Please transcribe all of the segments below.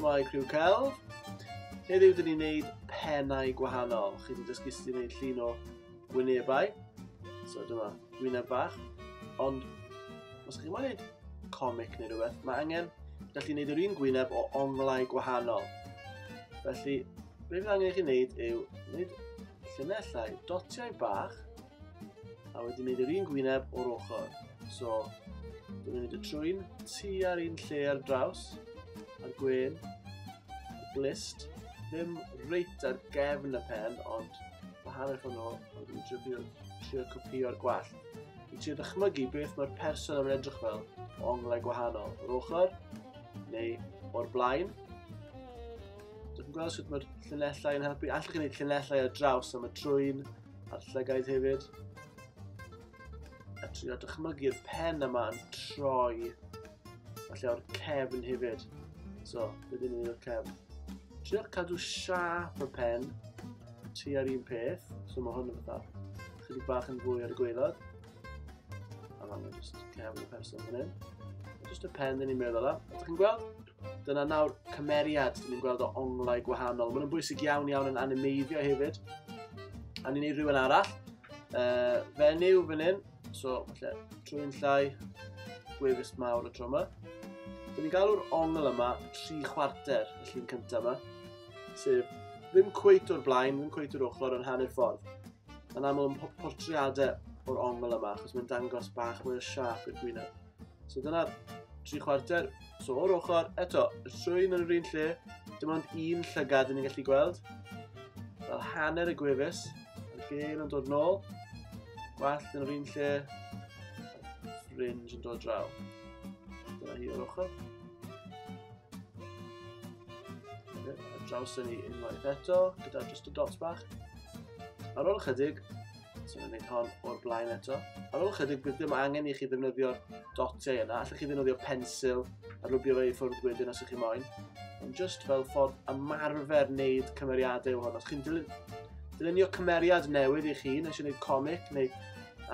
Shwmae criw celf. Heddiw dyn ni'n neud pennau gwahanol. Chi wedi dysgu sut i wneud llun o wynebau. So dyma, wyneb bach. Ond, os chi'n wneud comic neu rhywbeth, mae angen gallu wneud yr un gwyneb o onglau gwahanol. Felly, Be fydd angen i chi wneud yw wneud llunellau dotiau bach a wedyn wneud yr un gwyneb o'r ochr. So, dwi'n mynd y trwy'n tu ar un lle ar draws, a'r gwen, y glist, ddim reit ar gefn y pen, ond mae hanner ffordd nhw, ond dwi'n trio, trio copio'r gwell. Dwi'n trio dychmygu beth mae'r person yn edrych fel o onglau gwahanol, o'r ochr, neu o'r blaen, Dwi'n gweld sut mae'r llunellau yn helpu. Allwch chi wneud llunellau ar draws am y trwyn a'r llygaid hefyd. A trio dychmygu'r pen yma yn troi. Falle o'r cefn hefyd. So, bydd ni'n o'r cefn. Trio cadw siap y pen tu ar un peth. So mae hwn yn fatha chydig bach yn fwy ar y gweilod. A mae'n just cefn y person fan hyn. Just y pen dyn ni'n meddwl am. Ydych chi'n gweld? Dyna nawr cymeriad, dyn ni'n gweld o onglau gwahanol. Mae'n bwysig iawn iawn yn animeiddio hefyd. A ni'n ei rhywun arall. Uh, fenyw fan hyn, so falle trwy'n llai, gwefus mawr y tro yma. Dyn ni'n galw'r ongl yma tri chwarter y llun cyntaf yma, sef ddim cweit o'r blaen, ddim cweit o'r ochr yn hanner ffordd. Mae'n aml yn portreadau o'r ongl yma, achos mae'n dangos bach mwy o siap i'r gwyneb. So dyna tri chwarter. So o'r ochr, eto, y llwyn yn yr un lle, dim ond un llygad yn ni'n gallu gweld. Fel hanner y gwefus, y gael yn dod nôl, gwallt yn yr un lle, fringe yn dod draw. Dyna hi o'r ochr. Draws yn ni unwaith eto, gyda just y dots bach. Ar ôl ychydig, So ni'n gwneud hon o'r blaen eto. Ar ôl chydig, bydd ddim angen i chi ddefnyddio'r dotau yna. Allwch chi ddefnyddio pensil a rwbio fe i ffwrdd wedyn os ych chi moyn. Ond just fel ffordd ymarfer wneud cymeriadau o hwn. Os chi'n dilyn, dylunio cymeriad newydd i chi, nes i wneud comic neu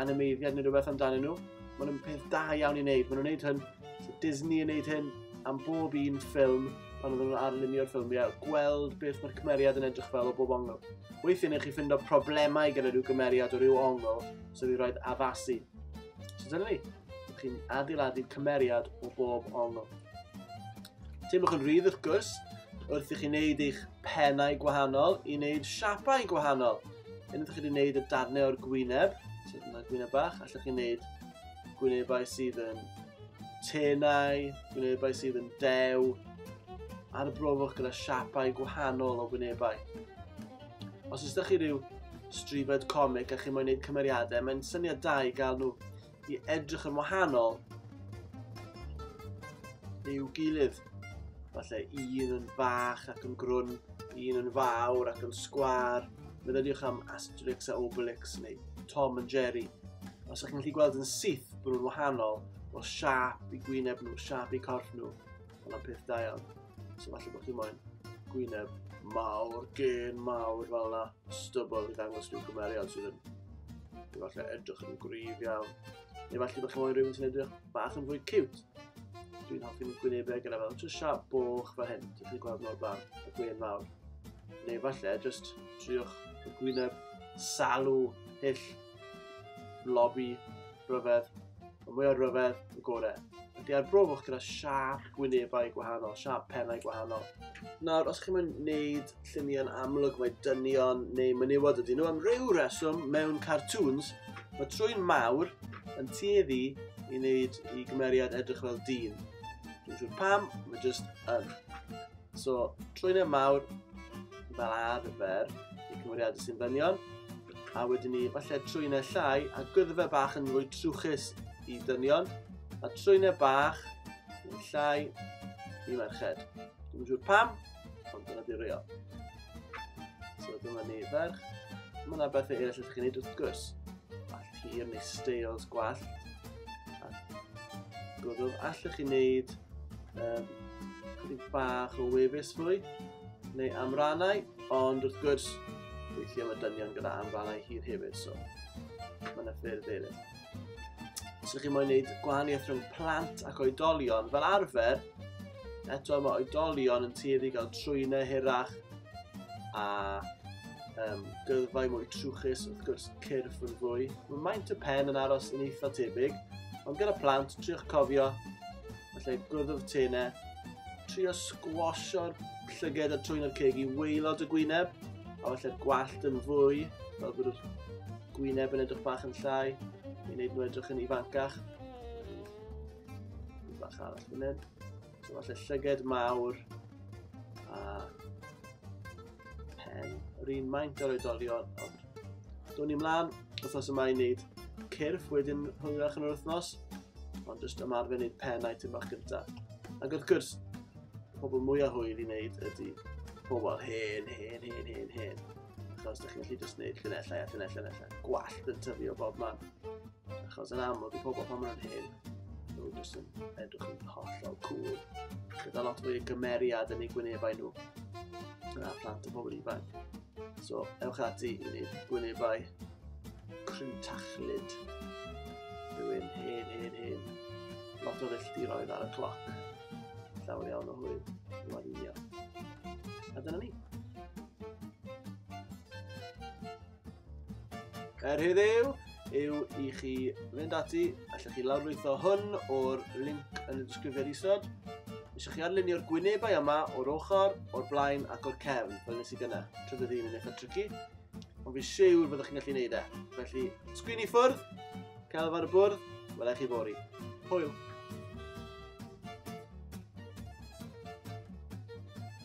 animeiddiad neu rhywbeth amdanyn nhw, maen nhw'n peth da iawn i wneud. Maen nhw'n wneud hyn, so Disney yn wneud hyn am bob un ffilm pan oedden nhw'n arlunio'r ffilmiau, gweld beth mae'r cymeriad yn edrych fel o bob ongl. Weithiau neu chi ffindo problemau gyda rhyw gymeriad o rhyw ongl sydd wedi rhoi addasu. So dyna ni, chi'n adeiladu cymeriad o bob ongl. Teimlwch yn rhydd wrth gwrs, wrth i chi wneud eich penau gwahanol i wneud siapau gwahanol. Yn ydych chi wedi wneud y darnau o'r gwyneb, so dyna gwyneb bach, allwch chi wneud gwynebau sydd yn tenau, gwynebau sydd yn dew, a'r brofwch gyda siapau gwahanol o wynebau. Os ys chi rhyw stribed comic a chi moyn gwneud cymeriadau, mae'n syniad da i gael nhw i edrych yn wahanol i'w gilydd. Falle un yn fach ac yn grwn, un yn fawr ac yn sgwar. Meddyliwch am Asterix a Obelix neu Tom and Jerry. Os ydych chi'n gallu gweld yn syth bod nhw'n wahanol, o siap i gwyneb nhw, siap i corff nhw, ond am peth da iawn. So falle bod chi'n moyn gwyneb mawr, gen mawr fel yna, stubble i ddangos rhyw gymeriad sydd yn falle edrych yn gryf iawn. Neu falle bod chi'n moyn rhywun sy'n edrych bach yn fwy cute. Dwi'n hoffi mynd gwynebau gyda fel just sharp boch fel hyn, dych chi'n gweld mor bach, y gwyn fawr. Neu falle, just triwch y gwyneb salw, hyll, lobby, rhyfedd. Y mwy o rhyfedd, y gorau. Ydy ar brofwch gyda sharp gwynebau gwahanol, sharp pennau gwahanol. Nawr, os chi'n mynd wneud lluniau'n amlwg mae dynion neu menywod ydyn nhw am ryw reswm mewn cartoons mae trwy'n mawr yn tueddu i wneud i gymeriad edrych fel dyn. Dwi'n siŵr pam, mae jyst yn. So, trwy'n e mawr fel arfer i cymeriadau sy'n ddynion, a wedyn ni falle trwy'n e llai a gwyddefe bach yn fwy trwchus i ddynion, a trwy'n e bach yn llai i merched. Dwi'n siŵr pam, Ond dyna di real. So dyma ni ferch. Mae yna bethau eraill ydych chi'n gwneud wrth gwrs. All hir neu steils gwallt. A gwrdd, allwch chi wneud um, chydig bach o wefus fwy neu amrannau, ond wrth gwrs, weithiau mae dynion gyda amrannau hir hefyd, so mae yna ffyrdd eraill. Os ydych chi'n moyn gwneud gwahaniaeth rhwng plant ac oedolion, fel arfer, eto mae oedolion yn tueddu gael trwynau hirach a um, gyrfau mwy trwchus, wrth gwrs cyrff yn fwy. Mae maint y pen yn aros yn eitha tebyg, ond gyda plant, triwch cofio, felly gwrddwf tenau, trio sgwasio'r llyged a trwy'n o'r ceg i weilod y gwyneb, a felly'r gwallt yn fwy, fel bod yr gwyneb yn edrych bach yn llai, i wneud nhw edrych yn ifancach. Yn bach arall fan hyn. So falle llyged mawr a pen yr un maint o'r oedolion. Ond down ni mlaen, wythnos yma i wneud cyrff wedyn hwyrach yn yr wythnos, ond jyst ymarfer wneud pen a'i item bach gyntaf. Ac wrth gwrs, pobl mwyaf hwyr i wneud ydy pobl hen, hen, hen, hen, hen. Achos ydych chi'n gallu just gwneud llunellau a llunellau, llunellau. Gwallt yn tyfu o bob man. Achos yn amlwg i pobl pan maen nhw'n hyn, nhw jyst yn edrych yn hollol cool. Gyda lot fwy o gymeriad yn ei gwynebau nhw. Yna plant o bobl ifanc. So, ewch ati i wneud gwynebau crwntachlyd. Rwy'n hen, hen, hen. Lot o filltiroedd ar y cloc. Llawer iawn o hwyl. Rwy'n A dyna ni. Er heddiw, yw i chi fynd ati, allwch chi lawrlwytho hwn o'r link yn y disgrifiad isod. Eisiau chi arlunio'r gwynebau yma o'r ochr, o'r blaen ac o'r cefn, fel nes i gyna, tra bydd un yn eich trici. Ond fi siwr byddwch chi'n gallu gwneud e. Felly, sgwyn i ffwrdd, celf ar y bwrdd, welai chi fori. Hwyl!